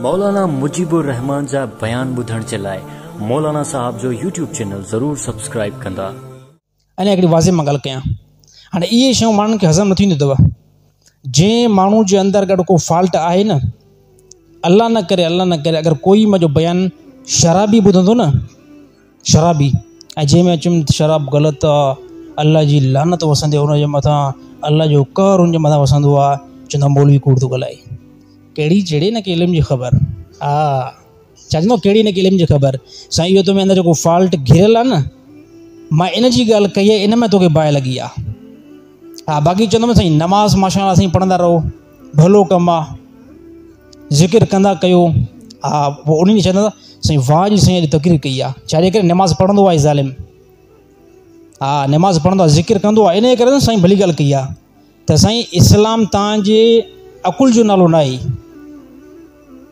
مولانا مجيب الرحمان جا بيان ٻڌڻ جي لاء مولانا صاحب جو يوٽيوب چينل ضرور سبسڪرائب ڪندا. اڃا هڪڙي واضح مان ڳالهه ڪيان هاڻي اهي شيون ماڻهن کي هضم نه ٿينديون اٿو جنهن ماڻهو جي اندر اگر ڪو فالٽ آهي نه الله نه ڪري الله نه ڪري اگر ڪوئي مان جو بيان شرابي ٻڌندو نه شرابي ۽ جنهن ۾ چيم ته شراب غلط آ الله جي لعنت وسندي ان جي مٿان الله جو قهر ان جي مٿان وسندو آ چوندو آ مولوي ڪوڙ ٿو ڳالهائي ڪهڙي چڙي ان کي علم جي خبر آ ڇا چوندو ڪهڙي ان کي علم جي خبر سائين اهو تو ۾ اندر جيڪو فالٽ گهريل آ نه مان ان جي ڳالهه ڪئي آ ان ۾ توکي باهه لڳي آ ها باقي چوندو سائين نماز ماشاءالله سائين پڙهندا رهو ڀلو ڪم آ ذڪر ڪندا ڪيو ها پوء انهن کي چوندا سائين واهه جي سائين اڄ تقرير ڪئي آ ڇاجي ڪري نماز پڙهندو آهي ظالم ها نماز پڙهندو آهي ذڪر ڪندو آهي انهي ڪري سائين ڀلي ڳالهه ڪئي آ ته سائين اسلام تان جي عقل جو نالو نه آهي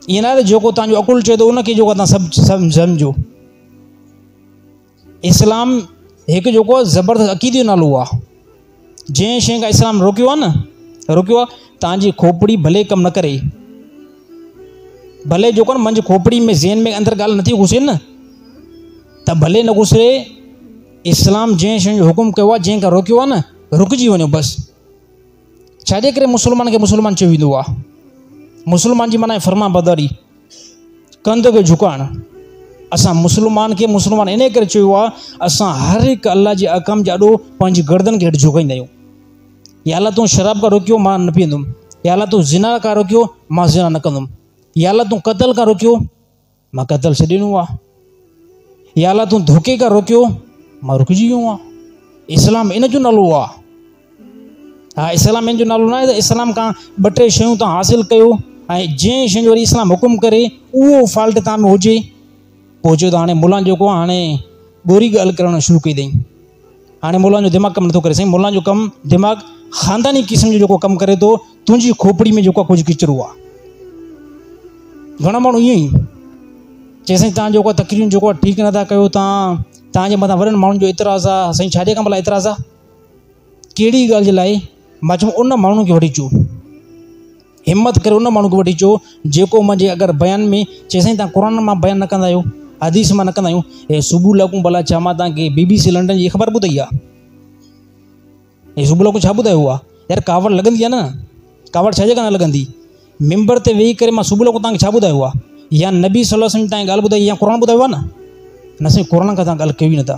ائين نه آهي ته جيڪو تان جو عقل چوي ٿو ان کي جيڪو تان سڀ سمجهو اسلام هڪ جيڪو آهي زبردست عقيدي جو نالو آهي جنهن شيء کان اسلام روڪيو آهي نه روڪيو آهي تان جي کوپڙي ڀلي ڪم نه ڪري ڀلي جيڪو منجهه کوپڙي ۾ ذهن ۾ اندر ڳالهه نٿي گهسي نه ته ڀلي نه گهسي اسلام جنهن شيء جو حڪم ڪيو آهي جنهن کان روڪيو آهي نه رڪجي وڃو بس ڇاجي ڪري مسلمان کي مسلمان چيو ويندو آهي؟ مسلمان جي معنيٰ آهي فرمانبرداري، ڪنڌ کي جهڪائڻ. اسان مسلمان کي مسلمان انهيء ڪري چيو آهي، اسان هر هڪ الله جي احڪام جي آڏو پنهنجي گردن کي هيٺ جهڪائيندا آهيون. يا الله تون شراب کان روڪيو، مان نه پيئندم. يا الله تون زنا کان روڪيو، مان زنا نه ڪندم. يا الله تون قتل کان روڪيو. مان قتل سي ڏنو آ يا الله تون ڌوڪي کان روڪيو مان رڪجي ويو آ اسلام ان جو نالو آ ها اسلام ان جو نالو نه آهي اسلام کان ٻه ٽي شيون تان حاصل ڪيو ۽ جنهن شين جو اسلام حڪم ڪري اهو فالٽ تان ۾ هجي پوء چيو ته هاڻي ملان جيڪو هاڻي ڳوري ڳالهه ڪرڻ شروع ڪئي اٿئي هاڻي مولان جو دماغ ڪم نٿو ڪري سائين مولان جو ڪم دماغ خانداني قسم جو جيڪو ڪم ڪري ٿو تنهنجي کوپڙي ۾ جيڪو ڪجهه ڪچرو آ گهڻا ماڻهو ائين ئي چي سائين تان جيڪو تقريرون جيڪو ٺيڪ نٿا ڪيو تان تان جي مٿان وڏن ماڻهن جو اعتراض آ سائين ڇا جي ڪم لاء اعتراض آ ڪهڙي ڳالهه جي لاء ماچو ان ماڻهن کي وٺي چو همت ڪري ان ماڻهو کي وٺي چئو جيڪو منهنجي اگر بيان ۾ چئي سائين تان قرآن مان بيان نه ڪندا آهيو حديث مان نه ڪندا آهيو هي سبو لکون ڀلا ڇا مان تان کي بي بي سي لنڊن جي خبر ٻڌائي آهي هي سبو لکون ڇا ٻڌايو آهي يار ڪاوڙ لڳندي آهي نه ڪاوڙ ڇا جي ڪرڻ لڳندي ممبر تي ويهي ڪري مان سبو لکون تان کي ڇا ٻڌايو آهي يا نبي صلي الله عليه وسلم تان ڳالهه ٻڌائي يا قرآن ٻڌايو آهي نه نه سائين قرآن کان تان ڳالهه ڪيو ئي نه ٿا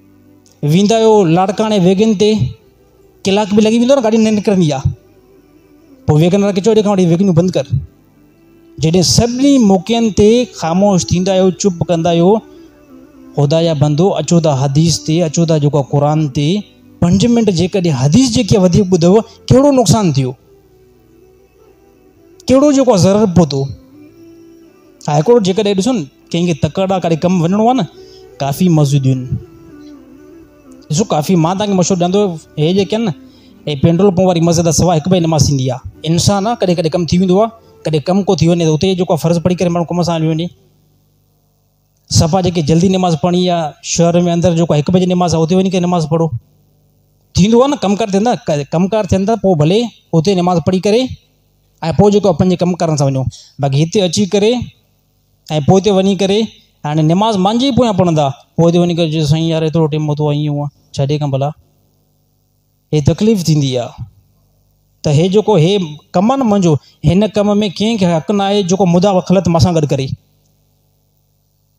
ويندا آهيو لاڙڪاڻي ويگن تي ڪلاڪ به لڳي ويندو نه گاڏي نه نڪرندي آ پوء ويگن وارا ڪچو ڏي کان وٺي ويگنيون بند ڪر جڏهن سڀني موقعن تي خاموش ٿيندا آهيو چپ ڪندا آهيو خدا جا بندو اچو ته حديث تي اچو ته جيڪو قرآن تي پنج منٽ جيڪڏهن حديث جيڪي وڌيڪ ٻڌو ڪهڙو نقصان ٿيو ڪهڙو جيڪو آ ضرر پهتو هاء ڪورٽ جيڪڏهن ڏسو نه ڪنهن کي تڪڙ آ ڪڏهن ڪم وڃڻو آ نه ڪافي مزو ڏين ڏسو ڪافي مان تان کي مشورو ڏيان ٿو هي جيڪي آهن نه هي پينڊول پون واري مزي تان سواء هڪ به نماز ٿيندي آ انسان آ ڪڏهن ڪڏهن ڪم ٿي ويندو آ ڪڏهن ڪم ڪو ٿي وڃي ته اتي جيڪو آ فرض پڙهي ڪري ماڻهو ڪم سان هليو وڃي صفا جيڪي جلدي نماز پڙهڻي آ شهر ۾ اندر جيڪو هڪ بجي نماز آ اتي وڃي ڪري نماز پڙهو ٿيندو آ نه ڪم ڪار ٿيندا ڪم ڪار ٿين ٿا پو ڀلي اتي نماز پڙهي ڪري ۽ پو جيڪو آ پنهنجي ڪم ڪارن سان وڃو باقي هتي اچي ڪري ۽ پو اتي وڃي ڪري هاڻي نماز مانجي پويان پڙهندا پو اتي وڃي ڪري چئجي سائين يار ايترو ٽيم هتو ائين هونئن ڇڏي ڪم ڀلا هي تڪليف ٿيندي آ ته هي جيڪو هي ڪم آن منهنجو هن ڪم ۾ ڪنهن کي حق نه آهي جيڪو مداخلت مان سان گڏ ڪري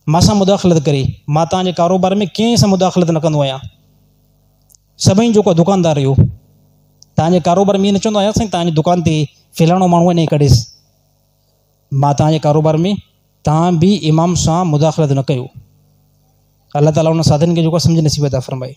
مان سان مداخلت ڪري مان تان جي ڪاروبار ۾ ڪنهن سان مداخلت نه ڪندو آهيان سڀئي جيڪو دڪاندار رهيو تان جي ڪاروبار ۾ نه چوندو آهيان سائين تان جي دڪان تي فلاڻو ماڻهو آهي نه ڪڍيس مان تان جي ڪاروبار ۾ تان به امام سان مداخلت نه ڪيو الله تعاليٰ ان سادن کي جيڪو سمجھ نصيب عطا فرمائي